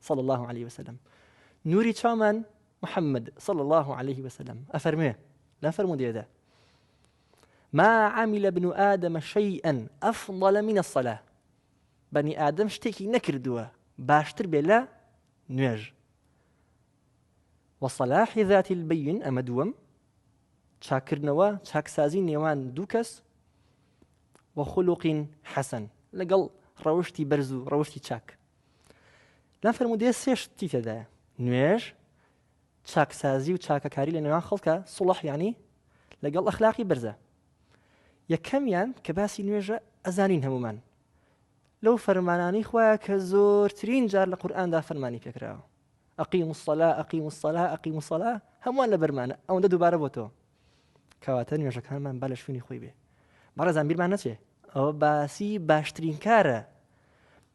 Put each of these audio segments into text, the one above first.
صلی اللە علیە وسلم نوری چاومان محمد صلی اللە علیه وسلم ئەفەرموێ لە فەرمودێدا ما عمل ابن آدم شيئا أفضل من الصلاة بني آدم شتێکی نەکردووە باشتر بێ لە نوێژ وصلاح ذات البين ئەمە دووەم چاکردنەوە چاکسازی نێوان دوو کەس وەخلوقین حەسەن لەگەڵ ڕەوشی بەرز و ڕەوشی چاک لە فەرمودێ سێ شتی تێدایە نوێژ چاکسازی و چاکەکاری لە نێوان خەڵکە سوڵح ینی لەگەڵ ئەخلاقی بەرزە یەکەمیان کە باسی نوێژە ئەزانین هەمومان لەو فەرمانانی خوایە کە زۆرترین جار لە قورآاندا فەرمانی پێکراوە ئەقی مسللا ئەقی مسللا ئەقی مسللا هەمووان لە بەرمانە ئەوەندە دووبارە بۆ تۆ کەواتە نوێژەکانمان با لە شوێنی خۆی بێ بەڕێزان بیرمان نەچێ ئەوە باسی باشترین کارە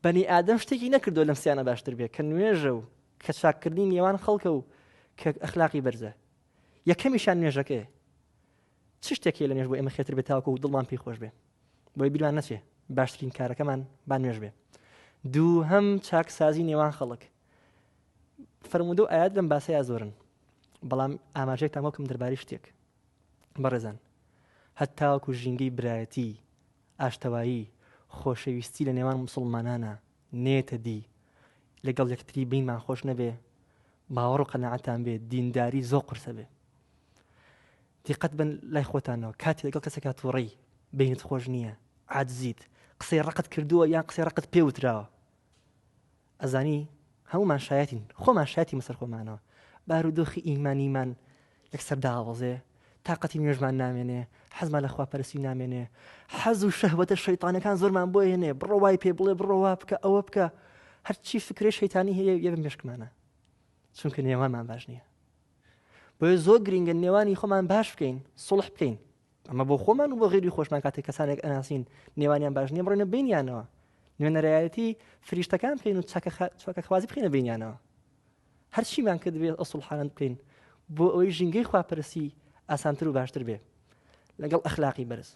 بەنی ئادەم شتێکی نەکردو لەم سیانە باشتر بێ کە نوێژە و کە چاککردنی نێوان خەڵکە و کە ئەخلاقی بەرزە یەکەمیشان نوێژەکەی چ شتێکی لە نوێژ بۆ ئێمە خێتر بێتاوکە و دڵمان پێی خۆش بێ بۆی بیرمان نەچێ باشترین کارەکەمان با نوێژ بێ دوو هەم چاکسازی نێوان خەڵک فەرموودە و ئايات لەم باسەیە زۆرن بەڵام ئاماژێکتان وەکم دەرباری شتێک بەڕێزان هەتاوەکو ژینگەی برایەتی ئاشتەوایی خۆشەویستی لە نێوان مسلمانانە نێتە دی لەگەڵ یەکتری بینمان خۆش نەبێ باوەڕ و قەنەعەتان بێ دینداری زۆ قرسە بێ دیقەت بن لای خۆتانەوە کاتی لەگەڵ کەسێکا تووڕی بینت خۆش نییە عادزیت قسەی ڕقت کردووە یان قسەی ڕقت پێوتراوە ئەزانی هەموومان شایەتین خۆمان شایەتی مەسەر خۆمانەوە بارودۆخی ئیمانیمان یەکسەر داوەزێ تااقەتی نوێژمان نامێنێ حەزمان لە خواپەرسی نامێنێ حەز و شەهوەتە شەیتانەکان زۆرمان بۆ هێنێ بڕەوای پێ بڵێ بڕەوە بکە ئەوە بکە هەرچی فکرێ شەیتانی هەیە یە بە مێشکمانە چونکە نێوانمان باش نییە بۆیە زۆر گرنگە نێوانی خۆمان باش بکەین سڵح بکەین ئەمە بۆ خۆمان و بۆ غێری خۆشمان کاتێک کەسانێک ئەناسین نێوانیان باش نیە بڕێنە بینیانەوە نوێنەرایەتی فریشتەکان بکەین و چاکە خوازی بخینە بینیانەوە هەرچیمان کرد بێت ئەسڵحانند بکەین بۆ ئەوەی ژینگەی خواپەرسی ئاسانتر و باشتر بێ لەگەڵ ئەخلاقی بەرز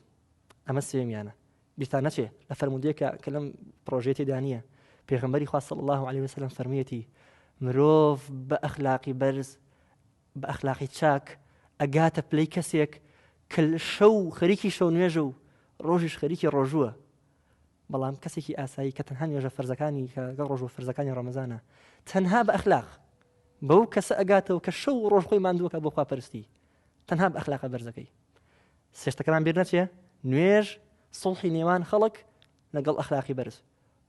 ئەمە سێمیانە بیستان نەچێ لە فەرمودێکە کە لەم پرۆژێتی دانیە پێغمبەری خواست الله عليه وسلم فەرمیەتی مرۆڤ بە ئەخلاقی بەرز بە ئەخلاقی چاک ئەگاتە پلەی کەسێک کە شەو خەریکی شەو نوێژە و ڕۆژیش خەریکی ڕۆژووە بەڵام کەسێکی ئاسایی کە تەنها نوێژە فەرزەکانی کە گەڵ ڕۆژوە فەرزەکانی ڕەمەزانە تەنها بە ئەخلاق بەو کەسە ئەگاتەوە کە شەو ڕۆژ خۆی ماندووەکە بۆ خواپەرستی تەنها بە ئەخلاقە بەرزەکەی سێشتەکەمان بیر نەچێ نوێژ سڵحی نێوان خەڵک لەگەڵ ئەخلاقی بەرز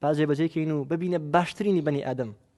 باجێ بەجێکەین و ببینە باشترینی بەنی ئادەم